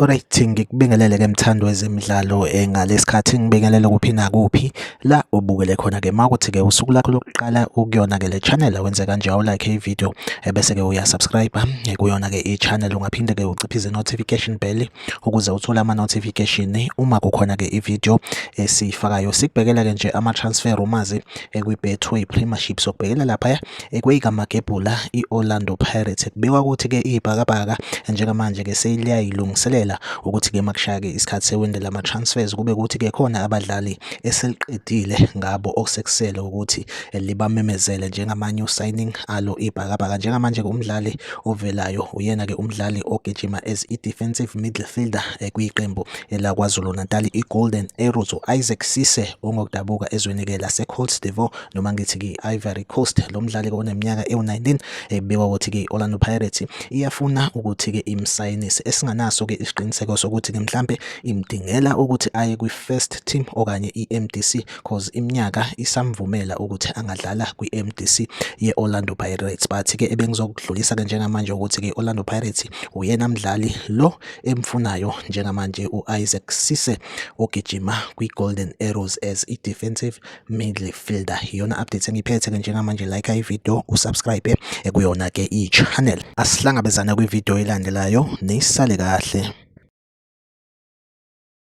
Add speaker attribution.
Speaker 1: Alright ngikubingelele ke mthando wezemidlalo eh, ngalesikhathi ngibingelele kuphi nakuphi la ubukele khona ke makuthi ke usuku lakho lokuqala ukuyona ke le channel wenze kanje awu like i video eh, bese ke uya subscribe eh, kuyona ke i channel ungaphinde ke uciphize notification bell ukuze uthole ama notification uma kukhona ke i video esifakayo sikubhekela ke nje ama transfer rumors kwi Betway Premiership sokubhekela lapha kweyikaMagebhula i-Orlando Pirates kubikwa ukuthi-ke iyibhakabhaka njengamanje-ke seliyayilungiselela ukuthi-ke makushaya-ke isikhathi sewindi lama-transfers kube ukuthi-ke khona abadlali eseliqedile ngabo okusekusele ukuthi libamemezele njengama-new signing alo ibhakabhaka njengamanje-ke umdlali ovelayo uyena-ke umdlali ogijima as i-defensive midfielder eh, kwiqembu elakwazulu-natal i-golden arrows u-isaac sise ongokudabuka ezweni-ke lasecoltsdevo noma ngithi ke Ivory Coast lo mdlali ke oneminyaka ewu-19 ebikwa ukuthi ke Orlando Pirates iyafuna ukuthi ke imsayinise esinganaso ke isiqiniseko sokuthi ke mhlambe imdingela ukuthi aye kwi first team okanye iMDC cause iminyaka isamvumela ukuthi angadlala kwi MDC ye Orlando Pirates but ke ebengizokudlulisa ke njengamanje ukuthi ke Orlando Pirates uyena mdlali lo emfunayo njengamanje uIsaac Sise ogijima kwi Golden Arrows as i defensive Middle Fielder iyona update engiphethe ke njengamanje like i video usubscribe ekuyona ke i channel asihlangabezana kwi video elandelayo nisale kahle